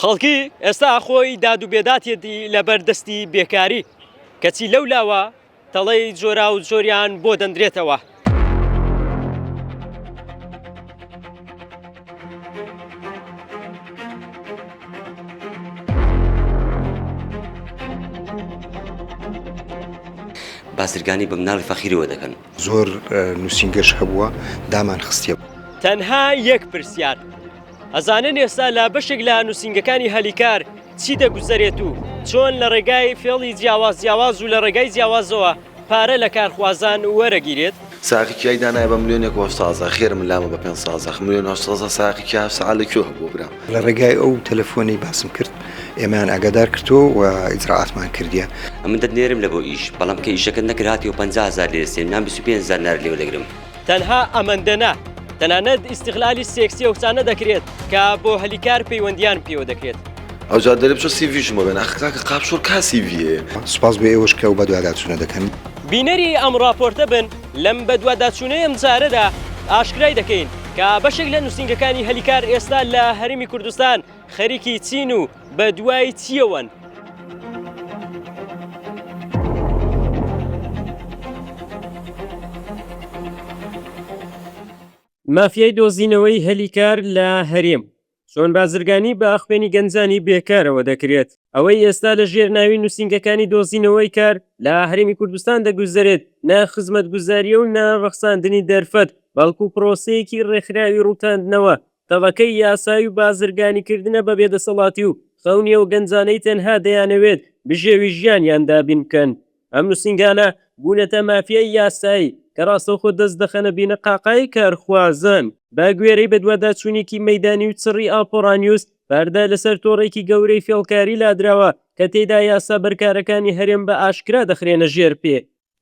خەڵکی ئێستا خۆی داد و بێداتیەتی لەبەر دەستی بێکاری، کەچی لەو لاوە تەڵەی جۆراو جۆریان بۆ دەندرێتەوە. بازرگانی بە مناڵی فەقیرەوە دەکەن. زۆر نووسینگەش هەبووە دامانخستیەوە. تەنها یەک پرسیار. ئەزانن ئێستا لە بەشێک لە نووسینگەکانی هەلیکار چی دەگوزەرێت و چۆن لە ڕێگای فێڵی جیاواز جیاواز و لە ڕێگای جیاوازەوە پارە لە کارخوازان وەرەگیرێت؟ ساقی کیای دانایە بە ملیۆنێک هۆشتازە خێر من لامە بە پێنج سازەخ ملیۆن هۆشتازە ساقی کیا هەفت سەعات لە کوێ هەبووە برام؟ لە ڕێگای ئەو تەلەفۆنەی باسم کرد ئێمەیان ئاگادار کردووە و ئیجرائاتمان کردیە. ئەمن دەتنێرم لە بۆ ئیش بەڵام کە ئیشەکەت نەکرد هاتیەوە پەنجا هەزار لێ دەستێنم یان بیست و پێنج هەزار نارت لێوەدەگرم. تەنها ئەمەندە نا، تەنانەت ئیستغلالی سێکسی ئەو کچانە دەکرێت کە بۆ هەلی کار پەیوەندییان پێوە دەکرێت. ئەوجا دەلێ بچۆ سی ڤیشم بۆ بێنە، ئاخر کاکە قاپشۆر کا سی ڤی هەیە؟ سوپاس بۆ ئێوەش کە ئەو بەدواداچوونە دەکەن. بینەری ئەم ڕاپۆرتە بن، لەم بەدواداچوونەی ئەمجارەدا ئاشکرای دەکەین کە بەشێک لە نووسینگەکانی هەلی کار ئێستا لە هەرێمی کوردستان، خەریکی چین و بە دوای چیەوەن؟ مافیای دۆزینەوەی هەلی کار لە هەرێم. چۆن بازرگانی بە خوێنی گەنجانی بێکارەوە دەکرێت؟ ئەوەی ئێستا لە ژێر ناوی نووسینگەکانی دۆزینەوەی کار لە هەرێمی کوردستان دەگوزەرێت نە خزمەتگوزارییە و نە ڕەخساندنی دەرفەت بەڵکو پرۆسەیەکی ڕێکخراوی ڕووتاندنەوە تەڤگەری یاسایی و بازرگانیکردنە بە بێدەسەڵاتی و خەونی ئەو گەنجانەی تەنها دەیانەوێت بژێوی ژیانیان دابین بکەن. ئەم نووسینگانە بوونەتە مافیای یاسایی کە ڕاستەوخۆ دەست دەخەنە بینەقاقای کارخوازان. بە گوێرەی بەدواداچوونێکی مەیدانی و چڕی ئاپۆرانیوز، پەردە لەسەر تۆڕێکی گەورەی فێڵکاری لادراوە کە تێیدا یاسا بەرکارەکانی هەرێم بە ئاشکرا دەخرێنە ژێر پێ.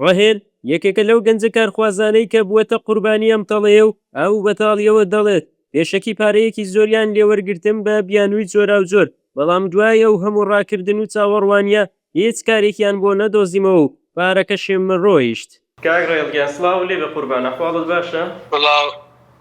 ڕەهێل یەکێکە لەو گەنجە کارخوازانەی کە بووەتە قوربانی ئەم تەڵەیە و ئەو بە تاڵییەوە دەڵێت، پێشەکی پارەیەکی زۆریان لێ وەرگرتم بە بیانووی جۆراوجۆر، بەڵام دوای ئەو هەموو ڕاکردن و چاوەڕوانییە هیچ کارێکیان بۆ نەدۆزیمەوە و پارەکەشم ڕۆیشت. کاک ڕەهێڵ گیان سڵاو لێبێ قوربان ئەحواڵت باشە؟ سڵاو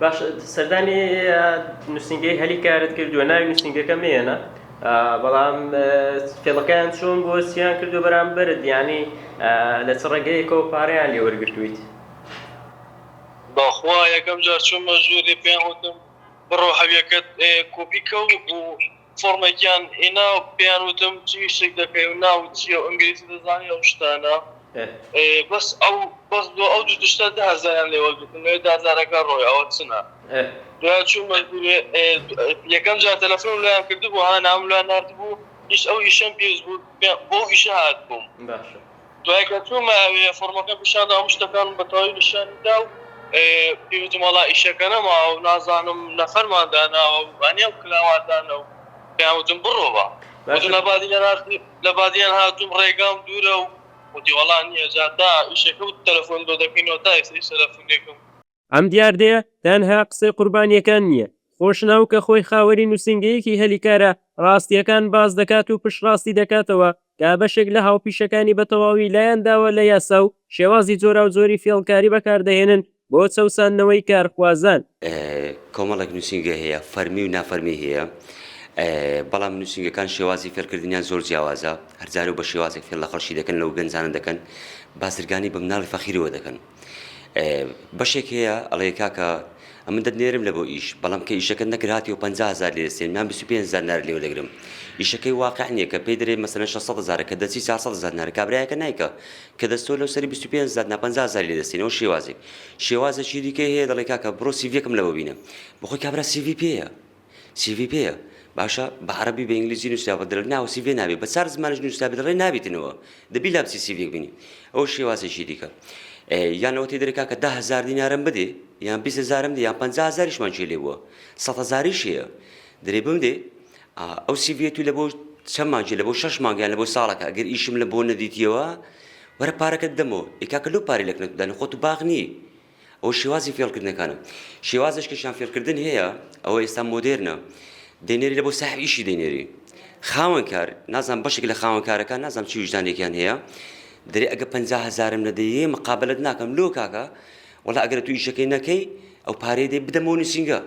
باشە سەردانی نووسینگەی هەلی کارت کردووە ناوی نووسینگەکە مێنە بەڵام فێڵەکەیان چۆن بۆ سیان کردو بەرامبەر دیانی لە چ ڕێگەیەکەوە پارەیان لێ وەرگتویت بەخوا یەکەم جار چوومە ژووری پێیان وتم بڕۆ هەویەکەت کۆپی کە و فۆڕمێکیان هینا و پێیان وتم چ ئیشێک دەکەی و ناوت چیە و ئینگلیزی دەزانی ئەو شتانە بەس ئەو بەس بۆ ئەو دوو تشتە دە هەزاریان لێ وەرگرتم لەوێ دازارەکە ڕۆی ئەوە چنە دوای چوو مەجبورێ یەکەم جار تەلەفۆنم لێیان کردبوو ها نامم لێیان ناردبوو ئیش ئەو ئیشەم پێویست بوو بۆ ئەو ئیشە هاتبووم. دوای کە چوومە ئەوێ فۆڕمەکەم پیشان دا هەموو شتەکانم بە تەواوی نیشانی دا و پێیوتم وەڵا ئیشەکە نەماوە و نازانم نەفەرمان داناوە و هەنێم کلاوان دانە و پێیان وتم بڕۆ با وتم لە بادینان هاتووم لە بادینان هاتووم ڕێگام دوورە و وتی وەڵا نییە جا تا ئیشەکە و تەلەفۆن بۆ دەکەینەوە تا ئێستا هیچ تەلەفونێکم ئەم دیاردەیە تەنها قسەی قوربانییەکان نییە، خۆشناو کە خۆی خاوەنی نووسینگەیەکی هەلی کارە، ڕاستییەکان باس دەکات و پشتڕاستی دەکاتەوە کە بەشێک لە هاوپیشەکانی بە تەواوی لایان داوە لە یاسا و شێوازی جۆراوجۆری فێڵکاری بەکاردەهێنن بۆ چەوساندنەوەی کارخوازان. کۆمەڵێک نووسینگە هەیە فەرمی و نافەرمی هەیە، بەڵام نووسینگەکان شێوازی فێڵکردنیان زۆر جیاوازە، هەرجارەو بە شێوازێک فێڵ لە خەڵکی دەکەن و گەنجانە دەکەن، بازرگانی بە مناڵی فەقیرەوە دەکەن. بەشێک هەیە ئەڵێ کاکە ئەمە دەنێرم لە بۆ ئیش بەڵام کە ئیشەکە نەکراتی و 500هزار لێ سێن نام 25 زانار لێوە دەگرم ئیشەکەی واقع نییە کە پێی دەێ مەسەن 600 زارە کە دەچی 400 زانار کابراایەکە نیکە کە دەستۆ لەو سەری 25 زار نا 500 زار لێ دەستێنەوە شێوازێک شێوازەکی دیکە هەیە دەڵێ کاکە بڕۆ سیڤەکەم لەوە بینە بخۆی کابرا سیڤی پێەیە سیڤی پێیە باشە بە عەرەبی بە ئینگلیزی نوسراوە دەڵێت ناوە سیڤی نابێت بە چار زمانیش نوسرابێت دەڵێن نابیتنەوە دەبی لامسی سیڤیەک بینی ئەوە شێوازێکی دیکە یان ئەوەی دەرێ کاکە ده هەزار دینارم بدێ یان بیست هەزارم دێ یان پەنجا هەزاریشمان چێ لێ بووە سەد هەزاریش هەیە دەرێ بم دێ ئەو سیڤیە تو لە بۆ چەند مانگی لە بۆ شەش مانگیان لە بۆ ساڵەکە ئەگەر ئیشم لە بۆ نەدیتیەوە وەرە پارەکەت دەمەوە ئێ کاکە لەو پارەی لەکنەت بدەنە خۆت و باغ نیی ئەوە شێوازی فێڵکردنەکانە. شێوازش کەشیان فێڵکردن هەیە، ئەوە ئێستا مۆدێرنە. دەینێری لە بۆ ساحب ئیشی دەینێری. خاوەنکار، نازانم بەشێک لە خاوەنکارەکان نازانم چی ویژدانێکیان هەیە. دەرێ ئەگە پەنجا هەزارم نەدەیێ مقابەلەت ناکەم. لۆ کاکە، وەڵا ئەگەر تو ئیشەکەی نەکەی، ئەو پارەی دەی بدەمەوە نوسینگە.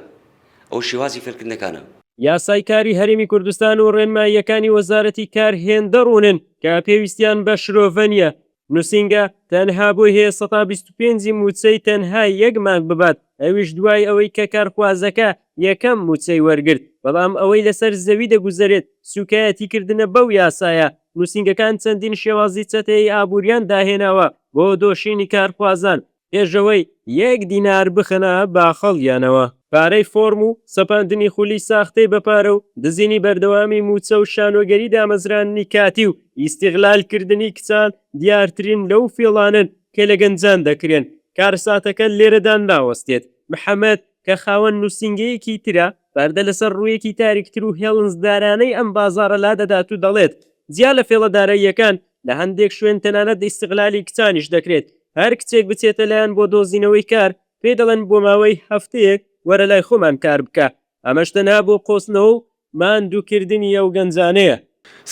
ئەوە شێوازی فێڵکردنەکانە. یاسای کاری هەرێمی کوردستان و ڕێنماییەکانی وەزارەتی کار هێندە ڕوونن کە پێویستیان بە شرۆڤە نییە نوسینگە تەنها بۆی هەیە سەتا بیست و پێنج ی مووچەی تەنها یەک مانگ ببات ئەویش دوای ئەوەی کە کارخوازەکە یەکەم مووچەی وەرگرت بەڵام ئەوەی لەسەر زەوی دەگوزەرێت سوکایەتی کردنە بەو یاسایە نوسینگەکان چەندین شێوازی چەتەیی ئابوریان داهێناوە بۆ دۆشینی کارخوازان ئێژەوەی یەک دینار بخەنە باخەڵیانەوە. پارەی فۆرم و سەپاندنی خولی ساختەی بە پارە و دزینی بەردەوامی مووچە و شانۆگەری دامەزراندنی کاتی و ئیستیغلال کردنی کچان دیارترین لەو فێڵانەن کە لە گەنجان دەکرێن، کارەساتەکە لێرەدا ناوەستێت، محەمەد کە خاوەن نووسینگەیەکی ترە پەردە لەسەر ڕوویەکی تاریکتر و هێڵنجدارانەی ئەم بازاڕە لادەدات و دەڵێت، جیا لە فێڵە داراییەکان لە هەندێک شوێن تەنانەت ئیستغلالی کچانیش دەکرێت، هەر کچێک بچێتە لایان بۆ دۆزینەوەی کار، پێی دەڵێن بۆ ماوەی هەفتەیەک وەرە لای خۆمان کار بکە، ئەمەش تەنها بۆ قۆستنەوە و ماندووکردنی ئەو گەنجانەیە.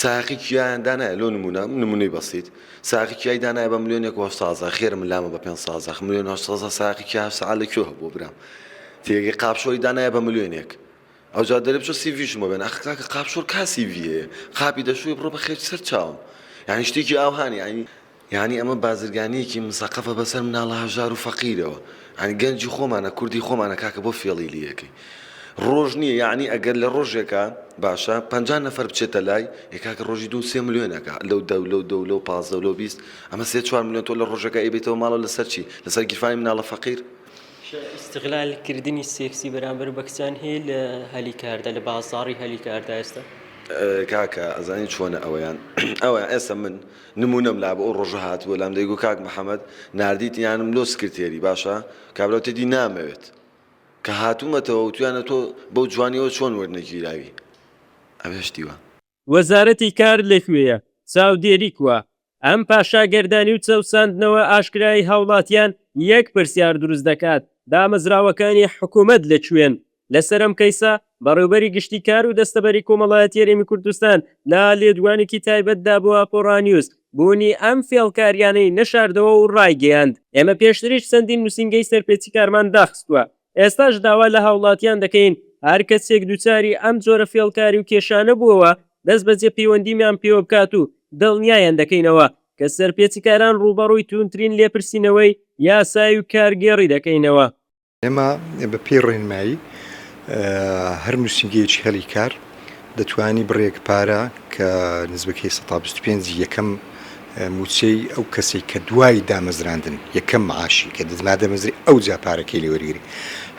سایەقی کیایان دانایە لۆ نموونە، نموونەی بەسیت، سایەقی کیای دانایە بە ملیۆنێک و هەشت سازە، خێر من لامە بە پێنج سازە، ملیۆن و هەشت سازە سایەقی کیا هەشت سەعات لە کوێ هەبووە برام، تێگەی قاپشۆی دانایە بە ملیۆنێک، ئەوجا دەرێ بچۆ سیڤیشم بۆ بێنە ئاخ کاکە قاپ شۆر کا سیڤی هەیە قاپی دەشوی بڕۆ بە خێچ سەر چاوم یانی شتێکی ئاوهان یانی یانی ئەمە بازرگانیەکی مسەقەفە بەسەر مناڵە هەژار و فەقیرەوە یانی گەنجی خۆمانە کوردی خۆمانە کاکە بۆ فێڵی لێکەی ڕۆژ نییە یعنی ئەگەر لە ڕۆژێکە باشە پەنجا نەفەر بچێتە لای یکاکە ڕۆژی دوو سێ ملیۆنەکە لەو دە و لەو دە و لەو پازدە و لەو بیست ئەمە سێ چوار ملیۆن تۆ لە ڕۆژەکە ئەیبێتەوە ماڵەوە لەسەر چی لەسەر گیرفانی مناڵە فەقیر ئیستغلال کردنی سێکسی بەرامبەر بە کچان هەیە لە هەلی کاردا لە بازاڕی هەلی کاردا ئێستا؟ کاکە ئەزانی چۆنە ئەوەیان ئەوەیان ئێستا من نمونەم لابوو ئەو ڕۆژە هاتبوو لام دەیگوو کاک محمد ناردیت یانم لۆ سکرتێری باشە کابرا وتێتی نامەوێت کە هاتوومەتەوە وتویانە تۆ بەو جوانیەوە چۆن وەرنەگیراوی ئەوێش دیوە. وەزارەتی کار لەکوێیە؟ چاودێری کوا؟ ئەم پاشاگەردانی و چەوساندنەوە ئاشکرای هاوڵاتیان یەک پرسیار دروست دەکات، دامەزراوەکانی حکومەت لەکوێن؟ لەسەرەم کەیسە، بەڕێوبەری گشتی کار و دەستەبەری کۆمەڵایەتی هەرێمی کوردستان لە لێدوانێکی تایبەتدا بۆ ئاپۆڕا نیوز بوونی ئەم فێڵکاریانەی نەشاردەوە و ڕایگەیاند، ئێمە پێشتریش چەندین نوسینگەی سەرپێچیکارمان داخستووە، ئێستاش داوا لە هاوڵاتیان دەکەین هەر کەسێک دووچاری ئەم جۆرە فێڵکاری و کێشانە بووەوە دەست بەجێ پەیوەندیمیان پێوە بکات و دڵنیایان دەکەینەوە کە سەرپێچیکاران ڕووبەڕووی تووندترین لێپرسینەوەی یاسایی و کارگێڕی دەکەینەوە. ئێمە بەپێی ڕێنمایی هەر نووسینگەیەکی هەلی کار، دەتوانی بڕێک پارە کە نزبکەی سەتا بیست و پێنج یەکەم موچەی ئەو کەسەی کە دوای دامەزراندن یەکەم معاشی کە دەمادەمەزری ئەو جا پارەکەی لێ وەرگری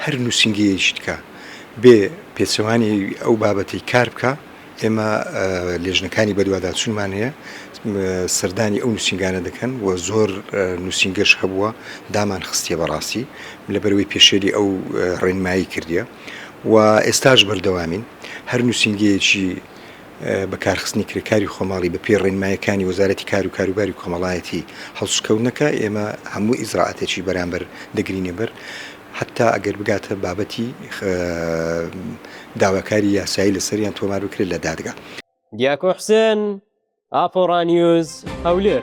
هەر نووسینگەیەیشت کە بێ پێچەوانەی ئەو بابەتەی کار بکا ئێمە لێژنەکانی بەدواداچوونمان هەیە سەردانی ئەو نووسنگانە دەکەن و زۆر نووسنگەش هەبووە دامان خستیە بەڕاستی لەبەروی پێشێلی ئەو ڕێنمایی کردە و ئێستاش بەردەوامین، هەر نووسینگەیەکی بەکارخستنی کرێکاری خۆماڵی بە پێی ڕێنماییەکانی وەزارەتی کار و کاروباری کۆمەڵایەتی هەڵسوکەوت نەکا، ئێمە هەموو ئیجرائاتێکی بەرامبەر دەگرینەبەر حەتتا ئەگەر بگاتە بابەتی داواکاری یاسایی لەسەریان تۆمار بکرێت لە دادگا. دیاکۆ حوسێن، ئاپۆڕا نیوز، هەولێر.